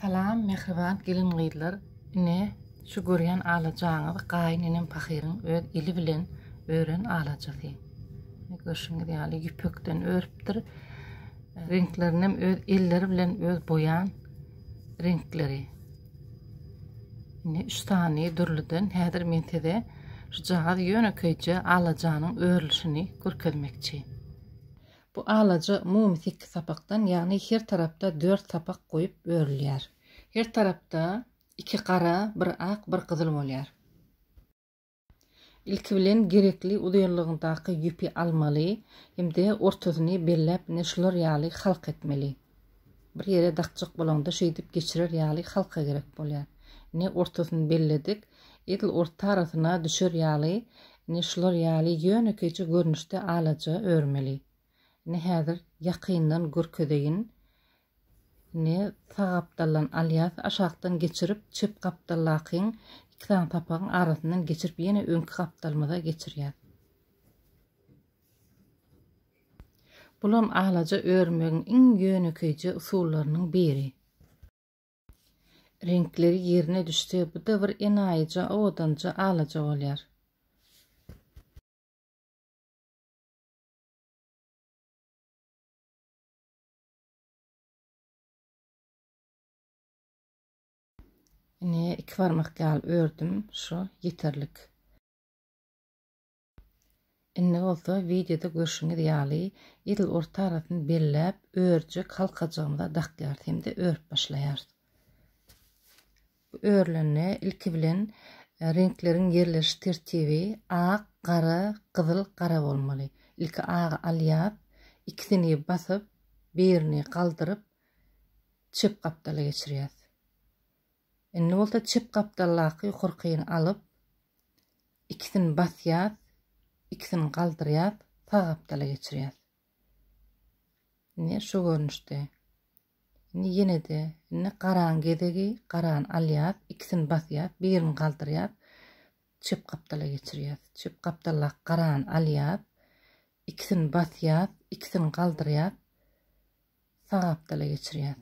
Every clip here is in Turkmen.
Salam mähriban gelin gyzlar ine şu görýän alajaňyz gaýyn enem pahyryň öz eli bilen ören alajasy görşüňiz ýaly ýüpekden örüpdir reňklerinem öz elleri bilen öz boýan reňkleri ine üç sany dürlüden häzir men size şu jagaz ýönekeýje alajanyň örülişini görkezmekçi. Bu alaja umumy sekiz sapakdan, ýagny her tarapda dört sapak goýup örülýär. Her tarapda iki gara, bir ak, bir gyzyl bolýar. Ilki bilen gerekli uzynlygyndaky ýüpi almaly hem-de ortasyny belläp ine şular ýaly halk etmeli. Bir ýere dakjak bolaňda şeýdip geçirer ýaly halka gerek bolýar. Ne ortasyny belledik, edil orta arasyna düşer ýaly, ne şular ýaly ýönekeýje görnüşde alaja örmeli. Ne häzir ýakyndan görkezeýin, ne sag gapdaldan alýas aşakdan geçirip çep gapdaldakyň iki sany sapagyň arasyndan geçirip ýene öňki gapdalymyza geçirýäs. Bulam alaja örmegiň iň ýönekeýje usullarynyň biri. Reňkleri ýerine düşse, bu-da bir enaýyja, owadanja alaja bolýar. Ine, iki barmak ýaly ördüm, şu ýeterlik. Indi bolsa wideoda görşüňiz ýaly edil orta arasyny belläp örjek halkajygymyza dakýarys hem-de örüp başlaýarys. Bu örülende ilki bilen e, reňkleriň ýerleşiş tertibi ak, gara, gyzyl, gara bolmaly. Ilki agy alýas, ikisini basyp, birini galdyryp çep gapdala geçirýäs. Indi bolsa çep gapdaldaky ýokarkyny alyp, Ikisini basýas, ikisini galdyrýas, sag gapdala geçirýas. Indi şu görnüşde. Indi ýene-de indi garan gezegi, garany alýas, ikisini basýas, birini galdyrýas, çep gapdala geçirýas. Çep gapdaldaky garany alýas, ikisini basýas, ikisini galdyrýas, sag gapdala geçirýäs.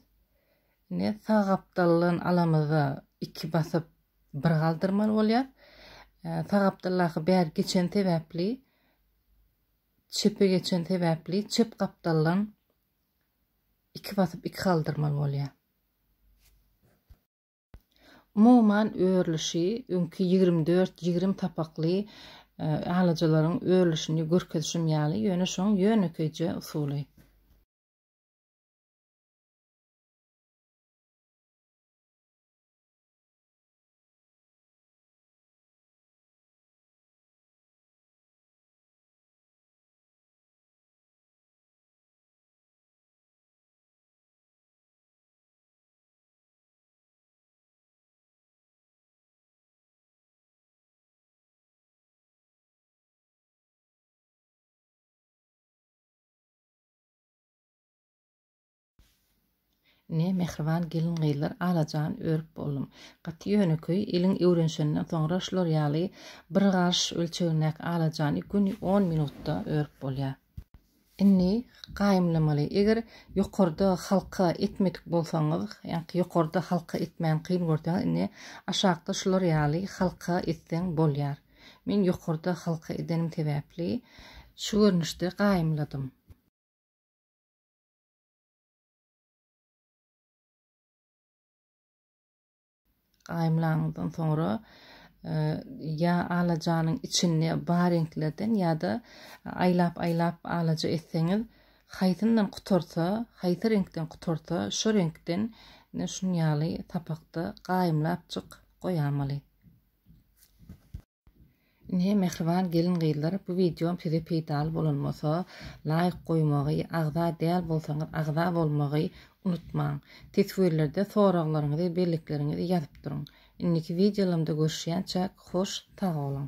Indi sag gapdaldan alamyzda iki basyp bir galdyrmaly bolýar. Sag gapdaldaky bär geçen sebäpli çepe geçen sebäpli çep gapdaldan iki basyp iki galdyrmaly bolýar. Umuman örülişi öňki ýigrimi dört ýigrimi sapakly alyjylaryň örülişini görkezişim ýaly, ýöne şoň ýönekeýje usuly. Ne mähriban gelin-gyzlar alajan örüp boldum. Gaty ýönekeý, eliň öwrenşenden soňra şular ýaly bir garş ölçegindäki alajany göni on minutda örüp bolýar. Indi gaýymlamaly. Eger ýokarda halka etmedik bolsaňyz, ýaňky ýokarda halka etmäni kyn görseňiz, indi aşakda şular ýaly halka etseň bolýar. Men ýokarda halka edenim sebäpli şu görnüşde gaýymladym. Gaýymlaňyzdan soňra ýa alajanyň içinde bar reňklerden ýa-da aýlap-aýlap alaja etseňiz, haýsyndan gutarsa, haýsy reňkden gutarsa, şo reňkden ine şunýaly sapakda gaýymlapjyk goýamaly. Ine mähriban gelin-gyzlar bu wideom size peýdaly bolan bolsa laýk goýmagy, agza däl bolsaňyz agza bolmagy unutmaň. Teswirlerde soraglaryňyzy, bellikleriňizi ýazyp duruň. Indiki wideolarymda görüşýänçäk hoş sag boluň.